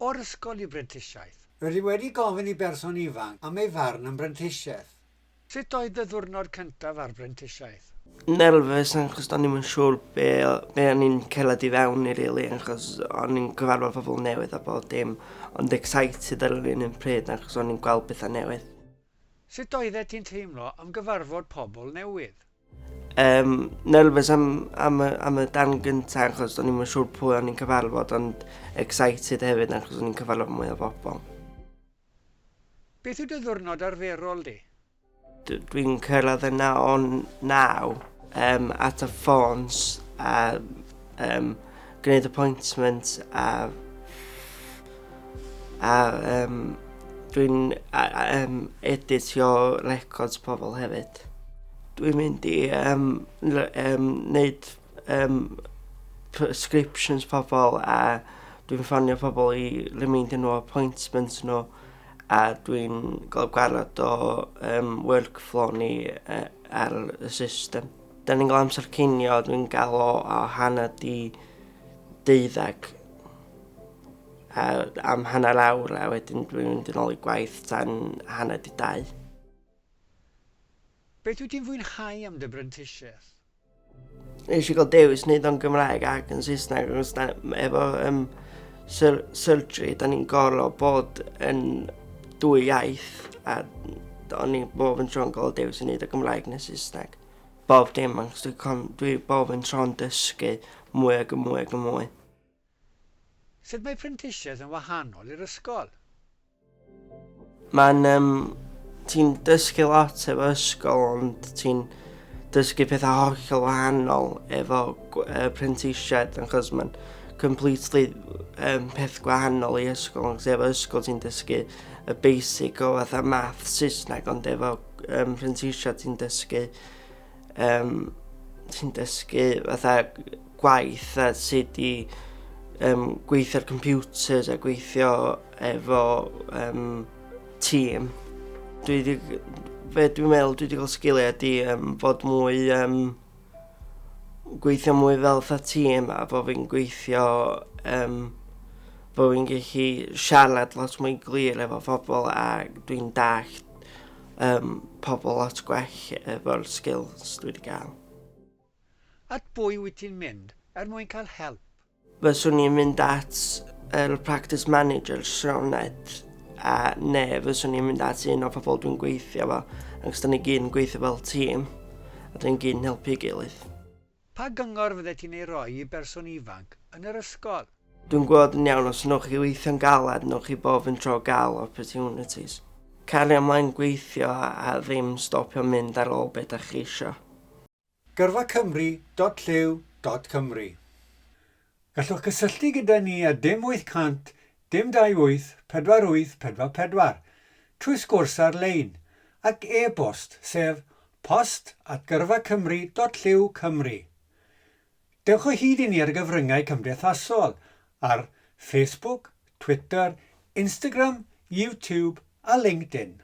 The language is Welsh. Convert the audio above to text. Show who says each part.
Speaker 1: o'r ysgol i brentisiaeth. Rydw i wedi gofyn
Speaker 2: i berson ifanc am ei farn am brentisiaeth. Sut oedd dy
Speaker 1: ddiwrnod cyntaf ar brentisiaeth? Nerfus
Speaker 3: achos do'n i'm yn siŵr be o- be o'n i'n cerdded i fewn i rili achos o'n i'n cyfarfod pobl newydd a bob dim ond excited ar yr un un pryd achos o'n i'n gweld petha newydd. Sut
Speaker 1: oeddet ti'n teimlo am gyfarfod pobl newydd? Um,
Speaker 3: nervous am, am, y, am y dan gyntaf achos o'n i'n siŵr pwy o'n i'n cyfarfod ond excited hefyd achos o'n i'n cyfarfod mwy o bobl.
Speaker 1: Beth yw dy ddwrnod arferol di? Dwi'n
Speaker 3: cyrraedd yna o'n naw um, at y ffons a um, gwneud appointment a, a um, dwi'n um, editio records pobl hefyd. Cymreictod. Dwi'n mynd i um, um, neud um, prescriptions pobl a dwi'n ffonio pobl i remeindio nhw appointments nhw a dwi'n gael gwarad o um, workflow ni uh, ar y system. Da ni'n gael amser cinio, dwi'n gael o, o hanner di deuddag a am hanner awr a wedyn dwi'n mynd yn ôl i gwaith tan hanner di dau.
Speaker 1: Beth wyt ti'n fwynhau am dy brentisiaeth?
Speaker 3: Nes i gael dewis wneud o'n Gymraeg ac yn Saesneg achos da, efo um, sur surgery da ni'n gorfod bod yn dwy iaith a o'n i'n bob yn tro'n gael dewis yn wneud o Gymraeg neu Saesneg. Bob dim achos dwi, con, dwi bob yn tro'n dysgu mwy ac yn mwy ac yn mwy.
Speaker 1: Sut mae prentisiaeth yn wahanol i'r ysgol? Mae'n... Um,
Speaker 3: ti'n dysgu lot efo ysgol, ond ti'n dysgu pethau hollol wahanol efo uh, prentisiaid, achos mae'n completely um, peth gwahanol i ysgol, ond efo ysgol ti'n dysgu y basic o fatha math Saesneg, ond efo um, prentisiaid ti'n dysgu Um, ti'n dysgu fatha gwaith a sut i um, gweithio ar computers a gweithio efo um, tîm. Dwi wedi, fe dwi'n meddwl, dwi wedi cael sgiliau ydy um, fod mwy, um, gweithio mwy fel fatha tîm a fod fi'n gweithio, um, fod fi'n gallu siarad lot mwy glir efo phobl a dwi'n dallt um, pobl lot gwell efo'r skills dwi wedi gael.
Speaker 1: At bwy wyt ti'n mynd er mwyn cael help? Fyswn i'n
Speaker 3: mynd at yr er practice manager Sioned a ne fyswn i'n mynd at un o pobl dwi'n gweithio fo ac da ni gyn gweithio fel tîm a dwi'n gyn helpu gilydd. Pa gyngor
Speaker 1: fyddet ti'n ei roi i berson ifanc yn yr ysgol? Dwi'n gweld yn iawn
Speaker 3: os newch chi weithio'n galed newch chi bob yn tro gael opportunities. Cario mlaen gweithio a ddim stopio mynd ar ôl be dach chi isio. Gyrfa Cymru dot
Speaker 2: llyw dot Cymru. Gallwch gysylltu gyda ni ar dim 800 dim 28 48 44, trwy sgwrs ar-lein, ac e-bost, sef post at gyrfacymru dot llyw cymru. Dewch o hyd i ni ar gyfryngau cymdeithasol ar Facebook, Twitter, Instagram, YouTube a LinkedIn.